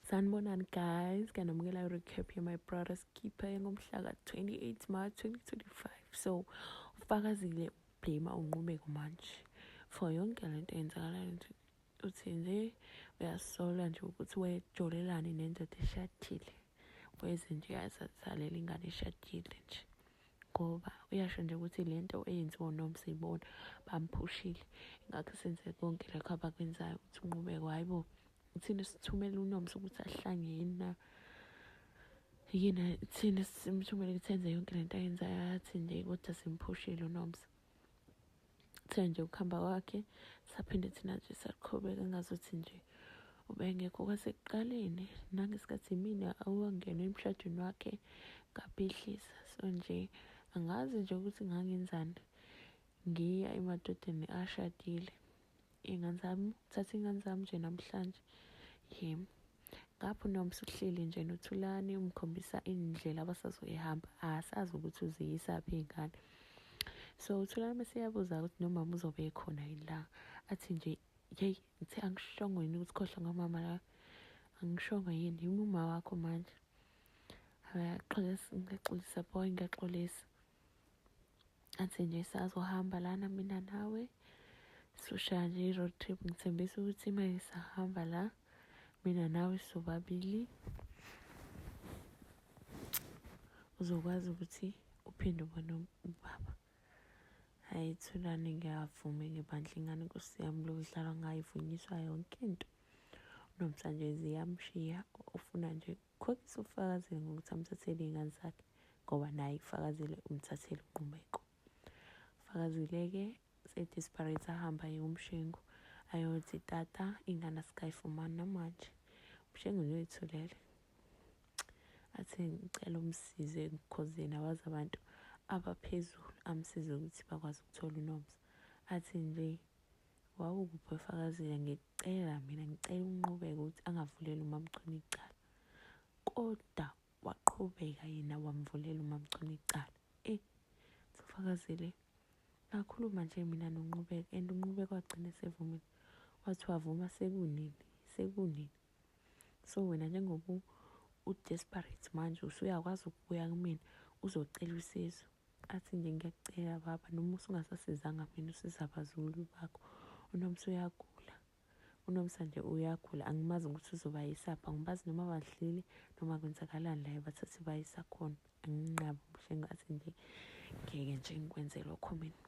Sanibonani guys, ngiyanamukela i-recap ye-My Brother's Keeper engomhla ka-28 March 2025. So, ufakazile ublame unqubeko manje for yonke le nto eyenzakalayo nje. Uthi nje uyasola nje ukuthi wejolelani nendoda eshadile. Weze nje yazalela ingane eshadile nje. ngoba uyasho nje ukuthi le nto eyenziwa unomsa ibona bamphushile ingakho senze konke lokho abakwenzayo ukuthi unqubeko hhayi bo thina sithumela unomsa ukuthi ahlange yini na yini thina simthumele ukuthi enze yonke le nto ayenzayo athi nje kodwa simphushile unomsa Uthe nje ukuhamba kwakhe saphinde thina nje saqhubeka ngazuthi nje ubengekho kwasekuqaleni nangesikhathi mina awangena emshadweni wakhe ngabhidlisa so nje angazi nje ukuthi ngangenzani ngiya emadodeni ashadile Ingane zami, thatha ingane zami nje namhlanje. Yim. Ngapho noma usuhleli nje noThulani umkhombisa indlela abasazoyihamba. Asazi ukuthi uziyisaphi iy'ngane. So uThulani mese uyabuza ukuthi nomama uzobe ekhona yini la. Athi nje, yeyi ngithe angishongo yini ukuthi khohlwa ngomama la. Angishongo yini, yimi umawakho manje. Ngiyaxolisa boy, ngiyaxolisa. athi nje sazohamba lana mina nawe soshaya nje i-road trip ngithembisa ukuthi uma ngisahamba la mina nawe sobabili uzokwazi ukuthi uphinde ubone ubaba hhayi thulane ngiyavuma ngebandla ingane nkosi yami lokudlalwa ngayo ivunyiswa yonke into nomsanjezi yamshiya ufuna nje Khombisa ubufakazile ngokuthi amthathele iy'ngane zakhe ngoba naye kufakazile umthathele uNqumeko. Fakazile-ke se-desperate ahamba aye kumshengu ayothi tata ingane asikayifumani namanje umshengu noyithulele athi ngicela umsize ekukhozeni awazi abantu abaphezulu amsize ukuthi bakwazi ukuthola unomsa athi nje wawukuphi efakazile ngithi Cela mina ngicela unqubeke ukuthi angavuleli umamchunu icala kodwa waqhubeka yena wamvulela umamchunu icala e sifakazile ngakhuluma nje mina nonqubeka and unqubeka wagcina esevumile wathi wavuma sekunini sekunini so wena njengoba u-desperate manje usuyakwazi ukubuya kumina uzocela usizo Athi nje ngiyakucela baba noma usungasasizanga mina usiza abazukulu bakho. UNomsa uyagula. UNomsa nje uyagula angimazi ukuthi uzobayisapha ngibazi noma badlile noma kwenzakalani laye bathathe bayisa khona anginqabi umhlengo athi nje ngeke nje ngikwenze lokho mina.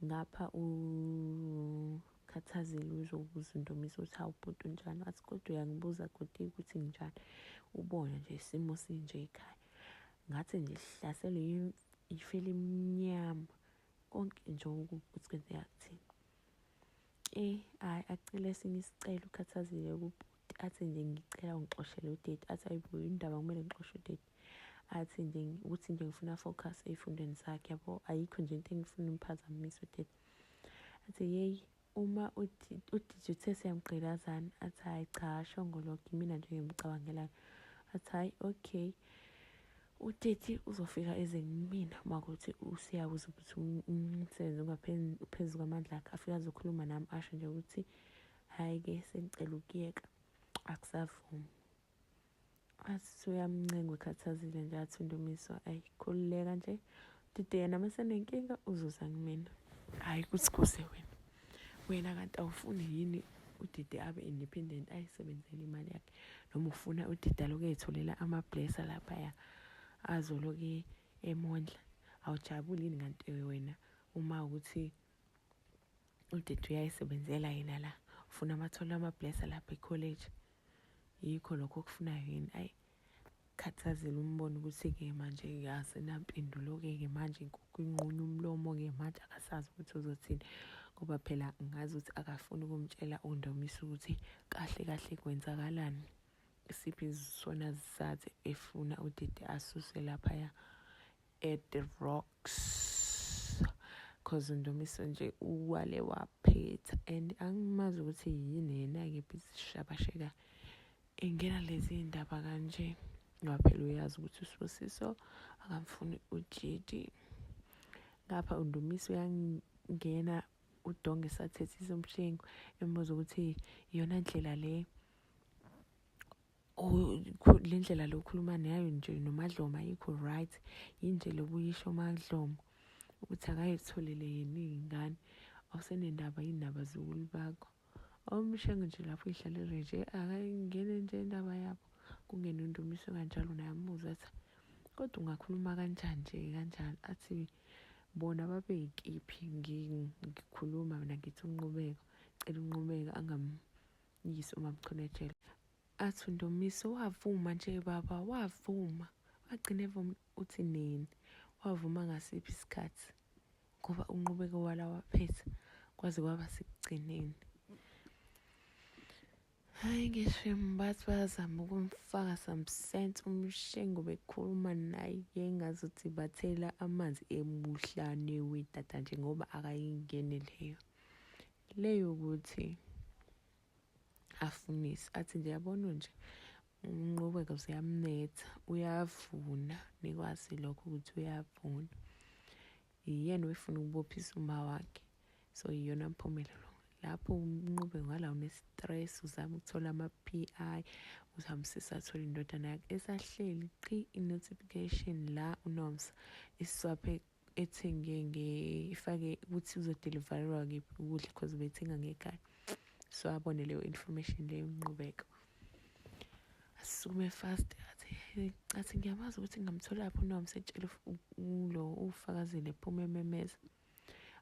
Ngapha uKhathazile uzobuza uNdumiso ukuthi hawu bhuti unjani wathi kodwa uyangibuza kodwa ukuthi nginjani ubona nje isimo sinje ekhaya ngathi nje sihlaselwe yifu elimnyama konke nje ukuthi kwenzeka kuthini eh hayi acele esinye isicelo ukhathazile kubhuti athi nje ngicela ungixoshele udade athi ayibo indaba kumele ngixoshe udade athi nje ukuthi nje ngifuna focus ey'fundweni zakhe yabo ayikho nje into engifuna umphazamisa udade athi yeyi uma udidi uthe siyamgqilazana athi hhayi cha ashongoloke imina nje ngimcabangelayo athi hhayi okay uteti uzofika eze kumina uma kuthi usiyakuze ukuthi umsebenzi ungaphezu kwamandla akhe afike azokhuluma nami asho nje ukuthi Hhayi ke sengicela ukuyeka akusavumi. Athi suyamncenga ukhathazile nje athi uNdumiso ayi khululeka nje. Dide yena masenenkinga uzoza kumina. Hhayi kuthi kuze wena. Wena kanti awufuni yini udide abe independent ayisebenzele imali yakhe noma ufuna udide aloku eyitholela ama-blesser laphaya azoloke emondla awujabuli yini kanti wena uma ukuthi udidi uyayisebenzela yena la ufuna amathole amablesa lapha ecollege yikho lokho okufunayo yini ayi khathazile umbona ukuthi-ke manje asenampendulo-ke-ke manje inkukhu inqunya umlomo-ke manje akasazi ukuthi uzothini ngoba phela ngazi ukuthi akafuni ukumtshela undomisa ukuthi kahle kahle kwenzakalani isiphi sona sizathu efuna udidi asuse laphaya at the rocks cause undumiso nje uwale waphetha and angimazi ukuthi yini yena-ke bizishabasheka engena lezi ndaba kanje ngoba phela uyazi ukuthi usibusiso akamfuni ujidi ngapha undumiso uyangena udonge sathethisa umshengu embuza ukuthi iyona ndlela le le ndlela lokhuluma nayo nje nomadlomo ayikho right yinje lokuyisho umadlomo ukuthi akayitholele yini iy'ngane awusenendaba yindaba zukulu bakho awumshengo nje lapho ihlalele nje akayingene nje indaba yabo kungena undumiso kanjalo naye amuze athi kodwa ungakhuluma kanjani nje kanjalo athi bona babeyikiphi ngikhuluma mina ngithi unqubeko cela unqubeko Yiso mamchonetshela. Athi uNdomiso wavuma nje baba wavuma. Wagcina evuma uthi nini? Wavuma ngasiphi isikhathi? Ngoba unqubeko wala waphetha kwaze kwaba sekugcineni. Hayi ngisho bathi bayazama ukumfaka some sense umshengo bekhuluma naye engazuthi bathela amanzi emuhlane wedada nje ngoba akayingeni leyo Le yokuthi afunise athi nje yabona nje umnqubeko ziyamnetha uyavuna nikwazi lokho ukuthi uyavuna yiyena oyifuna ukubophisa uma wakhe so yiyona mpumelelo lapho umnqube ngala une-stress uzama ukuthola ama-p i uzama usesathola indodana yakhe esahleli qhi i-notification la unomsa isiswaphe ethenge nge ifake ukuthi uzodeliverwa kephi ukudla because bethenga ngekhaya so abone leyo information leyo nqubeko asukume fast athi athi ngiyamazi ukuthi ngamthola lapho no ngisetshela ulo ufakazile phuma ememeza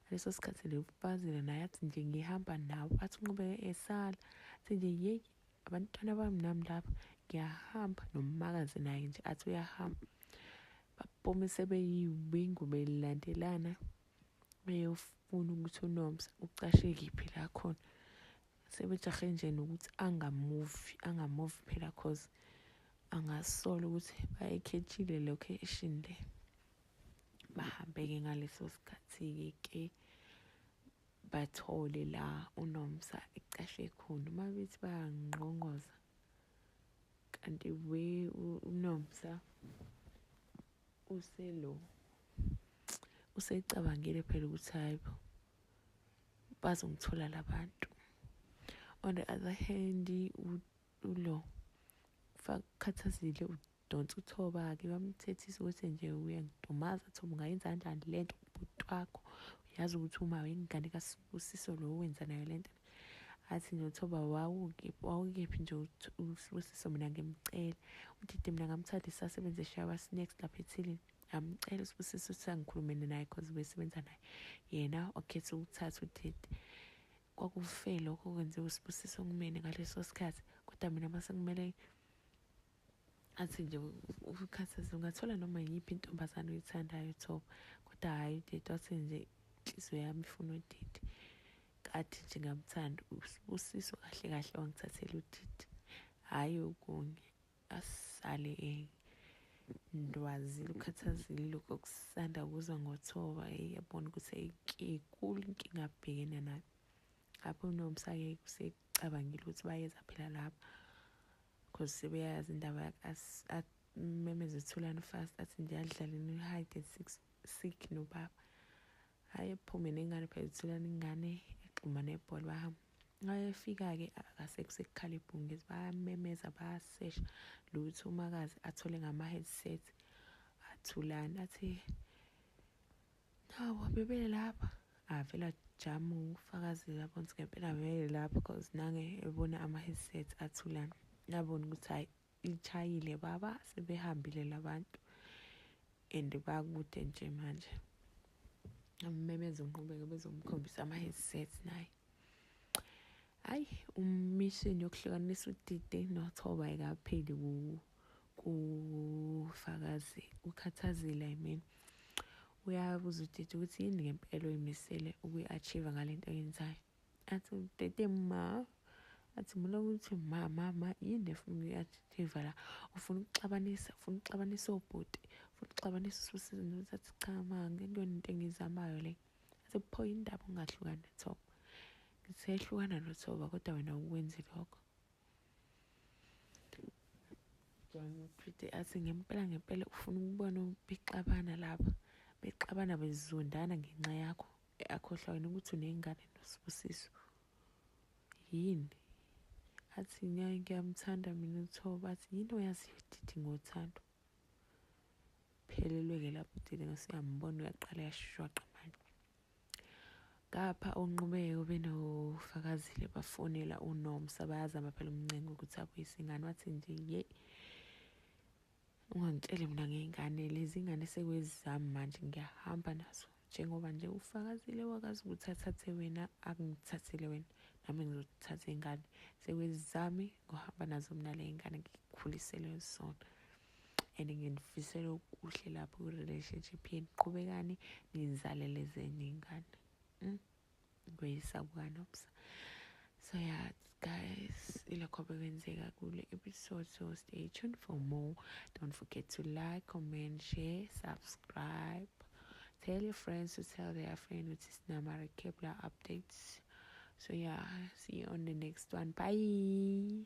leso sikhathi lefazile naye athi nje ngihamba nawe athi unqubeke esala athi nje yeyi abantwana bami nami lapha ngiyahamba nomakazi naye nje athi uyahamba baphuma sebeyiwingu belandelana beyofuna ukuthi unomsa ucashe kiphi la khona sebejahe nje nokuthi angamuvi angamuvi phela cause angasola ukuthi bayekhetshile location le bahambe-ke ngaleso sikhathi-ke ke bathole la unomsa ecashe khona uma bethi bayangqongoza kanti we unomsa uselo usecabangile phela ukuthi hayi bo bazongithola labantu on the other hand ulo fakhathazile Donsa uthoba-ke bamthethisa ukuthi nje uyangidumaza thoba ungayenza kanjani le nto kubhuti wakho uyazi ukuthi uma wengane kasibusiso lo wenza nayo le nto athi nje uthoba wawukephi nje usibusiso mina ngimcela udidi mina ngamthanda isasebenze shawa snacks lapha ethilini ngamcela usibusiso ukuthi angikhulumele naye cause besebenza naye yena wakhetha ukuthatha udidi kwakufe lokho kwenziwa usibusiso kumina ngaleso sikhathi kodwa mina mase kumele athi nje ukhathazile ungathola noma yiphi intombazane oyithandayo thoba kodwa hhayi udidi wathi nje inhliziyo yami ifuna udidi kathi nje ngamthanda usibusiso kahle kahle wangithathela udidi hhayi okunye asale ndwazile ukhathazile lokhu okusanda kuza ngothoba eyi yabona ukuthi ayikikulu inkinga abhekene nayo lapho unomsake usecabangile ukuthi bayeza phela lapho cause sebeyayazi indaba yakhe akumemeze ithulani fast athi nje adlaleni uhide sick nobaba hhayi ephume nengane phela ithulani ingane egxuma nebhola bahamba ayefika-ke akasekusekukhale ibhungezi bayamemeza bayasesha lutho umakazi athole ngama-headset athulani athi Nawo bebelapha avela jamu ufakazile abona ukuthi ngempela bebelapha because nange ebona ama-headset athulana nabona ukuthi hhayi lichayile baba sebehambile labantu and bakude nje manje ammemeze unqubeke bezomkhombisa ama-headset naye hayi umishini yokuhlukanisa udide nothoba ayikapheli kufakazi ukhathazile i mean uyabuza udide ukuthi yini ngempela oyimisele ukuyi-achieve ngale nto oyenzayo athi udede ma athi mina ukuthi ma ma ma yini efuna ukuyi-achieve la ufuna ukuxabanisa ufuna ukuxabanisa obhuti ufuna ukuxabanisa ususizinto uthi athi cha ma ngekuyona into engiyizamayo le Sekuphoya indaba ungahlukani noThoba. Ngisehlukana noThoba kodwa wena ukwenzi lokho. Pretty athi ngempela ngempela ufuna ukubona bexabana laba bexabana bezondana ngenxa yakho akhohlwa wena ukuthi unengane nosibusiso yini athi ngeke ngiyamthanda mina uthoba athi yini oyaziyo didi ngothando Phelelwe ke lapho uDideka usuyambona uyaqala yashwaqa manje. Ngapha onqubeko benofakazile bafonela uNomsa bayazama phela umncenga ukuthi abuyise ingane wathi nje ye ungangitshele mina ngey'ngane lezi ngane sekwezizami manje ngiyahamba nazo njengoba nje ufakazile wakazi ukuthi athathe wena akungithathile wena nami ngizothatha ingane sekwezizami ngohamba nazo mina le ngane ngikhulisele zona and nginifisela okuhle lapho kwi-relationship yenu qhubekani ninizalele zenye ingane mm? kuyisabukanobusa so yeah guys ilokho bekwenzeka kule episode so stay tuned for more don't forget to like comment share subscribe tell your friends to tell their friend which is namara kepler updates so yeah see you on the next one bye